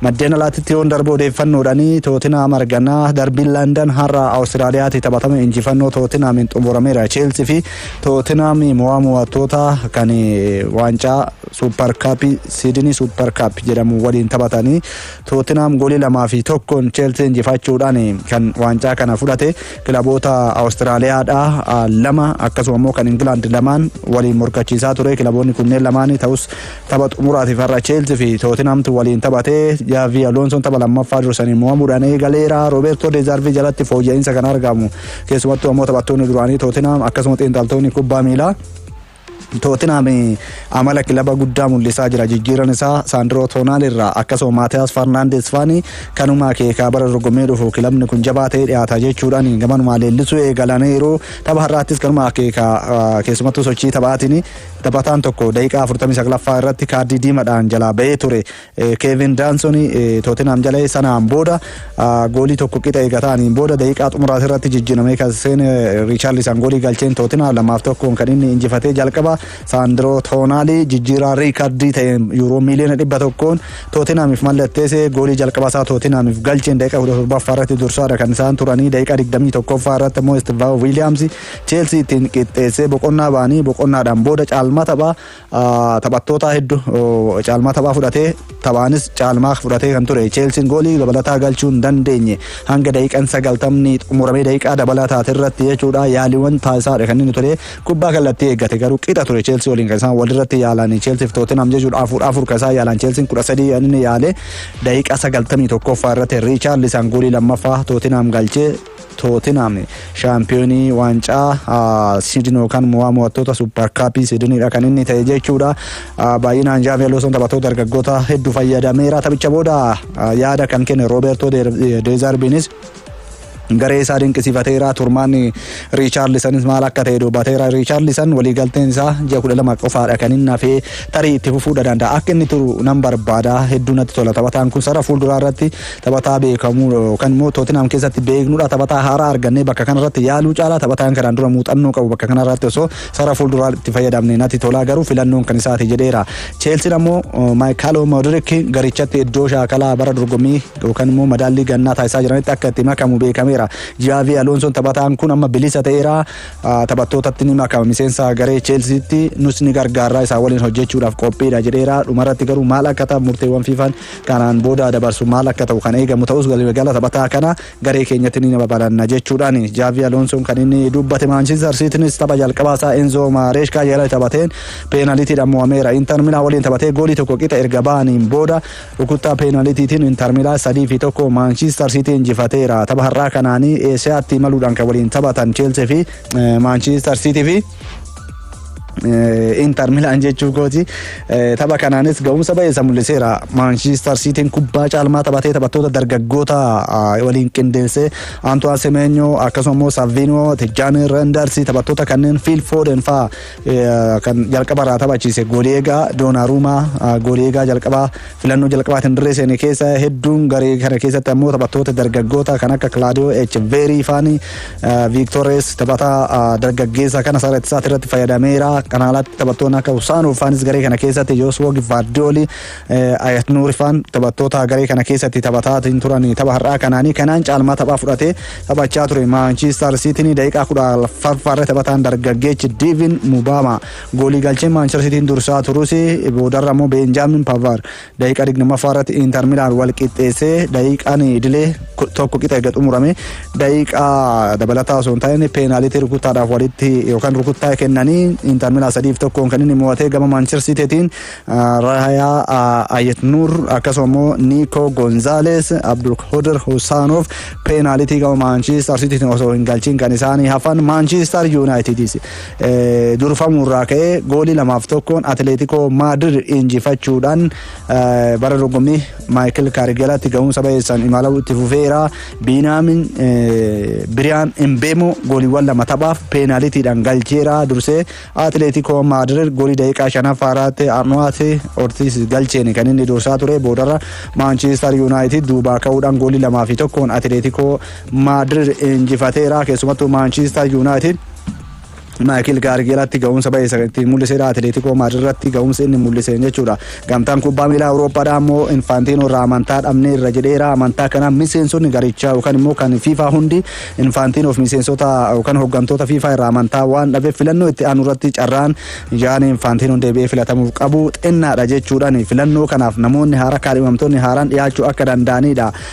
Maddeen alaatitti yoon darbu odeeffannoodhaan Tootinaam arganaa darbiin Landan har'a Awustiraaliyaatti taphatame injifannoo Tootinaamiin xumurameera. Cheelsii fi Tootinaam mo'aa mo'attoota kan waancaa Suupar Kaappii Siidinii Suupar Kaappi jedhamu waliin taphatanii Tootinaam goolii lamaa fi tokkoon Cheelsii injifachuudhaan kan waancaa kana fudhate kilaboota Awustiraaliyaadhaa lama akkasuma immoo kan Ingilaand lamaan waliin morkachiisaa ture kilaboonni kunneen lamaanii ta'us Tapha xumuraatiif har'a Cheelsii fi Tootinhaamtu waliin taphate. Jaavii Aloonsoon tapha lammaffaa dursanii mo'amuudhaan eegaleera. Roobeertoo Deezaarvii jalatti fooyya'insa kan argamu keessumattuu ammoo taphattoonni duraanii Tootinhaam akkasuma xiinxaltoonni kubbaa miilaa Tootinhaam amala kilaba guddaa mul'isaa jira. Jijjiiran isaa Saandiroo Toonaal irraa akkasuma Maatiyaas Farnaandees faani kanuma akeekaa bara dorgommii dhufu kilabni kun jabaa ta'ee dhiyaata jechuudhaan gamanumaa leellisuu eegalaniiru. Tapha har'aattis kanuma akeekaa keessumattuu sochii taphaatiin Taphataan tokko daqiiqaa 49ffaa irratti kaardii diimadhaan jalaa ba'ee ture Keevin Daansoni Tootinhaam jalee sanaan booda goolii tokko qixa eegataaniin booda daqiiqaa xumuraas irratti jijjiiramee kan seene Riichaarlisan goolii galcheen Tootinhaam lamaaf tokkoon kan inni injifatee jalqaba Saandiroo Toonaalii jijjiiraa riikardii ta'een yuuroo miiliyoona dhibba tokkoon Tootinhaamiif mallatteesse goolii jalqaba isaa Tootinhaamiif galcheen daqiiqaa 17ffaa irratti dursaadha kan isaan turanii daqiiqaa 21ffaa irratti immoo Istivaa Wiiliyaamsi Cheelsii ittiin qixxeessee boqonnaa ba'anii boqonnaadhaan booda caalmaa taphaa taphattootaa hedduu caalmaa taphaa fudhatee taphaanis caalmaa fudhatee kan ture Cheelsiin goolii dabalataa galchuu hin dandeenye hanga daqiiqan sagaltamni xumuramee daqiiqaa dabalaa taate irratti jechuudha yaaliiwwan taasisaadha kan inni ture kubbaa kallattii eeggate garuu qixa ture Cheelsii waliin kan isaan walirratti yaalan Cheelsiif Tootinam jechuudha afur afur kan isaan yaalan Cheelsiin kudha sadii kan inni yaale daqiiqaa sagaltamii tokkoffaa irratti Riichaarlisaan goolii lammaffaa Tootinam galchee Tootenhaam shaampiyoonii waancaa Siidin yookaan mo'aa mo'attoota Suupper Kaappii Siidiniidha kan inni ta'e jechuudha. Baay'inaan Jaavi Aloosoon taphattoota dargaggoota hedduu fayyadameera. Taphicha booda yaada kan kenne Roobertoo Deezaarbiinis garee isaa dinqisiifateera. Turmaanni Riichaarlisanis maal akka ta'e dubbateera. Riichaarlisan waliigalteen isaa ji'a kudha lama qofaadha kan inni hafee tarii itti fufuudha danda'a. Akka inni turu nan barbaada hedduu natti tola taphataan kun sarara fuulduraa irratti Taphataa beekamu yookaan immoo Tootinhaam keessatti beeknudha. Taphataa haaraa argannee bakka kanarratti yaaluu caalaa taphataan kanaan dura muuxannoo qabu bakka kanarratti osoo sara fuulduraa itti fayyadamne natti tolaa garuu filannoon kan isaati jedheera. Cheelsiin ammoo Maayikaaloo Moodirik garichatti iddoo shaakalaa bara dorgommii yookaan immoo madaallii gannaa taasisaa jiranitti akka itti makamu beekameera. Jaavi Aloonsoon taphataan kun amma bilisa ta'eera. Taphattootatti ni makama miseensa garee Cheelsiitti nus ni gargaarraa isaa waliin hojjechuudhaaf qophiidha jedheera. Dhumarratti garuu maal akka ta'an murteewwan fiifaan Kanaan booda dabarsu maal akka ta'u kan eegamu ta'us galgala taphataa kana garee keenyatti ni babalanna jechuudhaani Jaavii Aloonsoon kan inni dubbate Maanchistar Siitiinis tapha jalqabaa isaa Enzoo Maareeshkaa jala taphateen peenalitiidhaan mo'ameera. Intar Milaa waliin taphatee goolii tokko qixa erga ba'aniin booda rukuttaa peenalitiitiin Intar Milaa sadii fi tokko Maanchistar Siitii injifateera. Tapha har'aa kanaanii Eesiyaatti imaluudhaan kan waliin taphatan Cheelsii fi Maanchistar Siitii fi Inter Milan jechuu kooti. Tapha kanaanis ga'umsa baay'ee isa mul'iseera. Maanshiistar Siitiin kubbaa caalmaa taphatee taphattoota dargaggoota waliin qindeessee Antoine Semenyo akkasuma immoo Savino, Tijjani Renders taphattoota kanneen Phil Foden fa'aa kan jalqaba irraa taphachiise goolii eegaa Doonaruumaa goolii eegaa jalqabaa Filannoo jalqabaatiin dirree seene keessa hedduun garee kana keessatti ammoo taphattoota dargaggoota kan akka Kilaadiyoo H. Veerii faani Viiktoores taphataa dargaggeessa kana sarara ittisaatti irratti fayyadameera. Kana alatti taphattoonni akka Usaanoo faanis garee kana keessatti Yooswoo Givaardiyoolii Ayatnuur faan taphattoota garee kana keessatti taphataatiin turan tapha har'aa kanaanii kanaan caalmaa taphaa fudhatee taphachaa ture. Maanchiistar Siitiin daqiiqaa kudha farfaarra taphataan dargaggeechi Diivin Mubaama Goolii galchee Maanchester Siitiin dursaa turus boodarra immoo Beenjaamin Pavaar daqiiqaa 20ffaa irratti Inter Milaan wal qixxeessee daqiiqaan idilee tokko qixa eega xumurame daqiiqaa dabalataa osoo hin taane peenaaliitii rukuttaadhaaf walitti yookaan rukuttaa kennanii Inter Milaan sadiif tokkoon kan inni mo'atee gama Maanchester Siitiitiin Raayaa Ayet Nuur akkasuma immoo Niikoo Gonzaalees Abdul Hoder Husaanoof peenaaliitii gama Maanchester Siitiitiin osoo hin galchiin kan isaanii hafan Maanchester Yuunaayitiidis durfamuu irraa ka'ee goolii lamaaf tokkoon Atileetikoo Maadir injifachuudhaan bara dorgommii Maayikil Kaarigelaatti ga'umsa bayeessaan imaluu itti fufeera. Biinaamin Biriyaan Imbeemoo gooliiwwan lama taphaaf peenaalitiidhaan galcheera dursee Atileetikoo Maadir goolii daqiiqaa shanaffaa irratti Arnowaati Ortiis galcheen kan inni dursaa ture boodarra Maanchiistar Yuunaayitid duubaa ka'uudhaan goolii lamaa fi tokkoon Atileetikoo Maadir injifateera keessumattuu Maanchiistar Yuunaayitid Maayikil Kaarikii irratti ga'umsa ba'e isa ittiin mul'isedha. Atileetikoo Maadrid irratti ga'umsa inni mul'iseen jechuudha. Gamtaan kubbaa miilaa Awurooppaadha ammoo Infaantiinoo irraa amantaa dhabnee irra jedheera. Amantaa kana miseensonni garichaa yookaan immoo kan FIFA hundi Infaantiinoof miseensota yookaan hooggantoota FIFA irraa amantaa waan dhabeef filannoo itti aanu irratti carraan yaan Infaantiinoon deebi'ee filatamuuf qabu xinnaadha jechuudhaan filannoo kanaaf namoonni haaraa kaadhimamtoonni haaraan dhiyaachuu akka danda'anidha.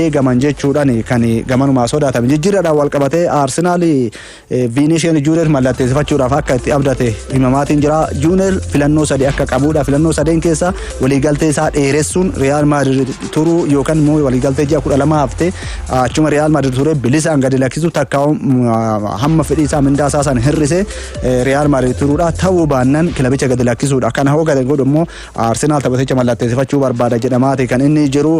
eegaman jechuudhaan kan gamanumaa sodaatame. Jijjiirraadhaan walqabatee Arsenaal Viinishiyan Juuneer mallatteessifachuudhaaf akka itti abdate himamaatiin jira. Juuneer filannoo sadii akka qabuudha. Filannoo sadeen keessa waliigaltee isaa dheeressuun Riyaal Maadrid turuu yookaan immoo waliigaltee ji'a kudha lama hafte achuma Riyaal Maadrid turee bilisaan gadi lakkisuu takka hamma fedhii isaa mindaa isaa san hir'ise Riyaal Maadrid turuudha. Ta'uu baannaan kilabicha gadi lakkisuudha. Kana hoo gadi godhu immoo Arsenaal taphaticha mallatteessifachuu barbaada jedhamaati kan inni jiru.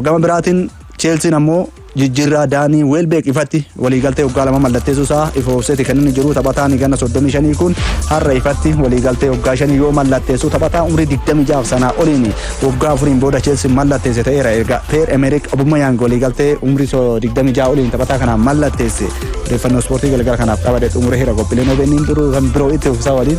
Gama biraatiin Cheelsiin ammoo jijjiirraa Daanii Weelbeek ifatti waliigaltee waggaa lama mallatteessuu isaa ifoofseeti kan inni jiru taphataan ganna 35 kun har'a ifatti waliigaltee waggaa shanii yoo mallatteessuu taphataa umrii 26 sanaa oliin waggaa afuriin booda Cheelsiin mallatteesse ta'eera erga Peer Emerik Abumayaang waliigaltee umrii 26 oliin taphataa kanaan mallatteesse odeeffannoo ispoortii galgala kanaaf qabadee xumuree hira qophiileen OBN biroo kan biroo itti uffisa waliin.